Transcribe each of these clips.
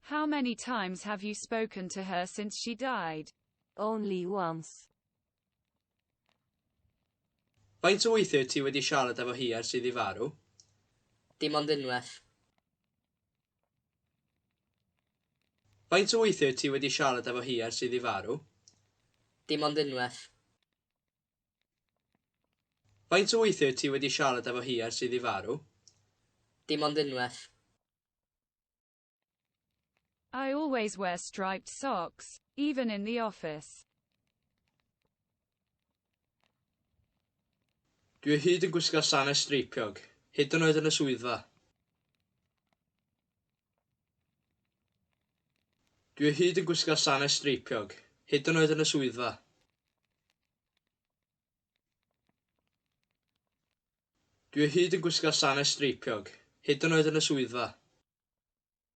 How many times have you spoken to her since she died? Only once. Faint o weithiau wyt ti wedi siarad efo hi ers iddi farw? Dim ond unwaith. Faint o weithiau ti wedi siarad efo hi ers iddi farw? Dim ond unwaith. Faint o weithiau ti wedi siarad efo hi ers iddi farw? Dim ond unwaith. I always wear striped socks, even in the office. Dwi o hyd yn gwisgo sanau streipiog, hyd yn oed yn y swyddfa. Dwi o hyd yn gwisgo sanau streipiog, hyd yn oed yn y swyddfa. Dwi o hyd yn gwisgo sanau streipiog, hyd yn oed yn y swyddfa.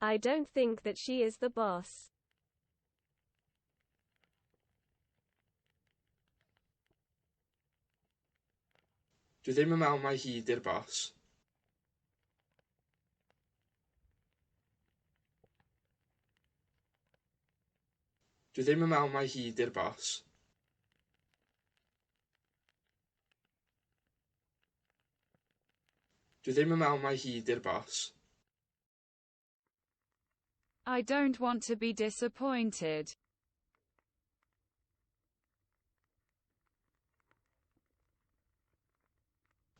I don't think that she is the boss. Dwi ddim yn meddwl mai hi di'r boss. Dwi ddim yn meddwl mai hi di'r boss. Dwi ddim yn meddwl mai hi 'di'r boss. I don't want to be disappointed.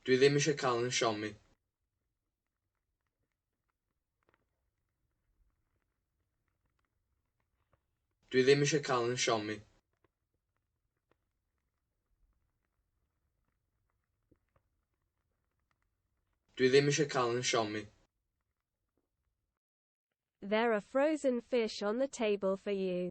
Dwi ddim eisiau cael yn siomi. Dwi ddim eisiau cael yn siomi. Dwi ddim eisiau cael yn siomi. There are frozen fish on the table for you.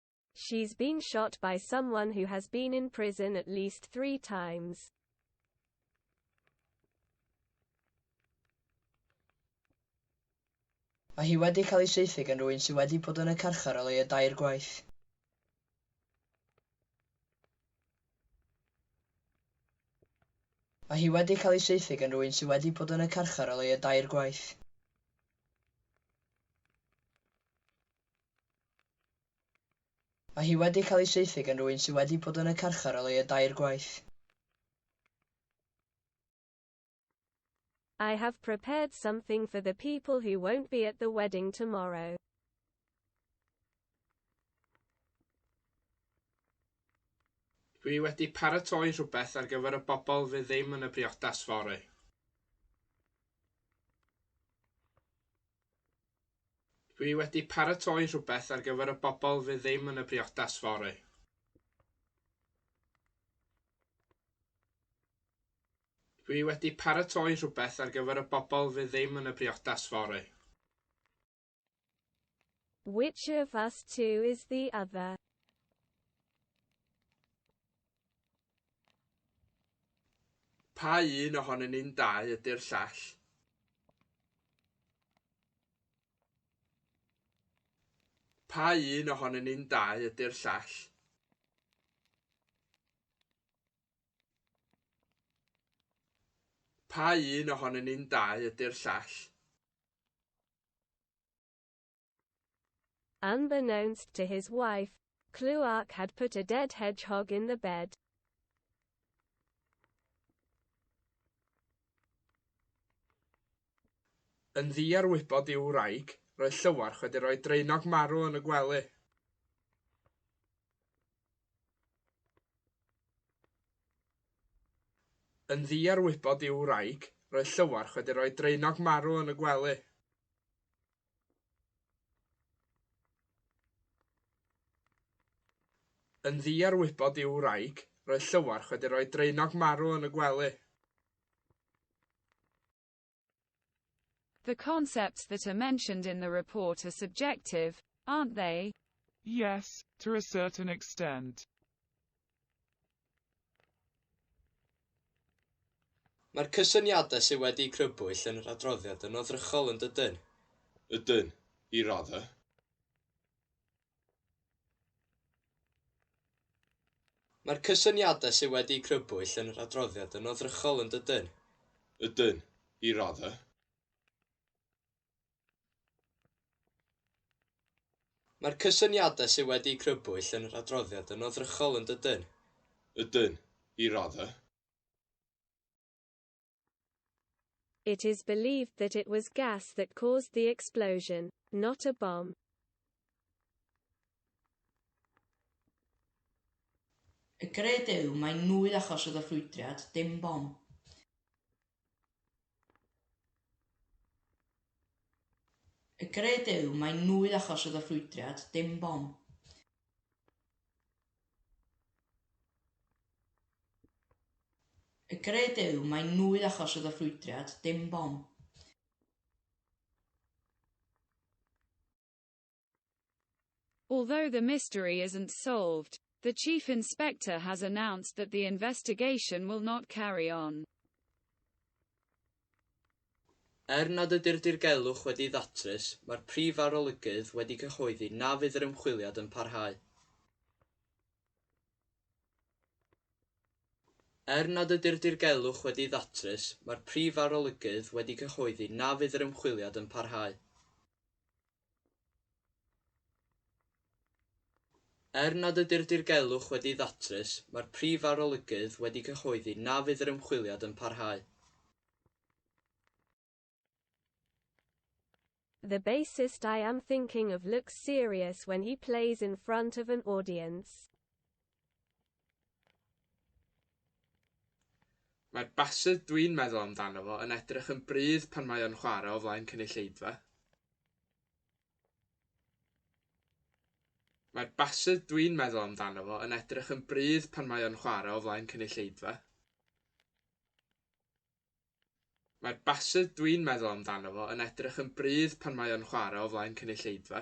She's been shot by someone who has been in prison at least three times. Mae hi wedi cael ei saethu gan rwy'n sydd wedi bod yn y carchar o leiaf dair gwaith. Mae hi wedi cael ei saethu gan rwy'n sydd wedi bod yn y carchar o leiaf dair gwaith. Mae hi wedi cael ei saethu gan rywun sydd wedi bod yn y carchar o leiaf dair gwaith. I have prepared something for the people who won't be at the wedding tomorrow. Dwi wedi paratoi rhywbeth ar gyfer y bobl fydd ddim yn y briodas fory. Dwi wedi paratoi rhywbeth ar gyfer y bobl fydd ddim yn y briodas fory. Dwi wedi paratoi rhywbeth ar gyfer y bobl fydd ddim yn y briodas fory. Which of us two is the other? Pa un ohonyn ni'n dau ydy'r llall? Pa un ohonyn ni'n dau ydy'r llall? Pa un ohonyn ni'n dau ydy'r llall? Unbeknownst to his wife, Cluark had put a dead hedgehog in the bed. Yn ddu ar wybod i'w wraig, roedd Llywarch wedi rhoi draenog marw yn y gwely. Yn ddu ar wybod i'w wraig, roedd Llywarch wedi rhoi draenog marw yn y gwely. Yn ddu ar wybod i'w wraig, roedd Llywarch wedi rhoi draenog marw yn y gwely. The concepts that are mentioned in the report are subjective, aren't they? Yes, to a certain extent. Mae'r cysyniadau sydd wedi'u crybwyll yn yr adroddiad yn oddrychol yn dydyn? Ydyn, i raddau. Mae'r cysyniadau sydd wedi'u crybwyll yn yr adroddiad yn oddrychol yn dydyn? Ydyn, i raddau. Mae'r cysyniadau sydd wedi'u crybwyll yn yr adroddiad yn oddrychol, yn dydyn? Ydyn, i raddau. It is believed that it was gas that caused the explosion, not a bomb. Y gred yw mai nwy achos oedd y ffrwydriad, dim bom. Y gred yw mai nwy achos oedd y ffrwydriad, dim bom. Y gred yw mai nwy achos oedd y ffrwydriad, dim bom. Although the mystery isn't solved, the Chief Inspector has announced that the investigation will not carry on. Er nad ydy'r dirgelwch wedi'i ddatrys, mae'r Prif Arolygydd wedi cyhoeddi na fydd yr ymchwiliad yn parhau. Er nad ydy'r dirgelwch wedi'i ddatrys, mae'r Prif Arolygydd wedi cyhoeddi na fydd yr ymchwiliad yn parhau. Er nad ydy'r dirgelwch wedi'i ddatrys, mae'r Prif Arolygydd wedi cyhoeddi na fydd yr ymchwiliad yn parhau. The bassist I am thinking of looks serious when he plays in front of an audience. Mae'r bassedd dwi'n meddwl amdano fo yn edrych yn brudd pan mae o'n chwarae o flaen cynulleidfa. Mae'r bassedd dwi'n meddwl amdano fo yn edrych yn brudd pan mae o'n chwarae o flaen cynulleidfa. Mae'r bassedd dwi'n meddwl amdano fo yn edrych yn brudd pan mae o'n chwarae o flaen cynulleidfa.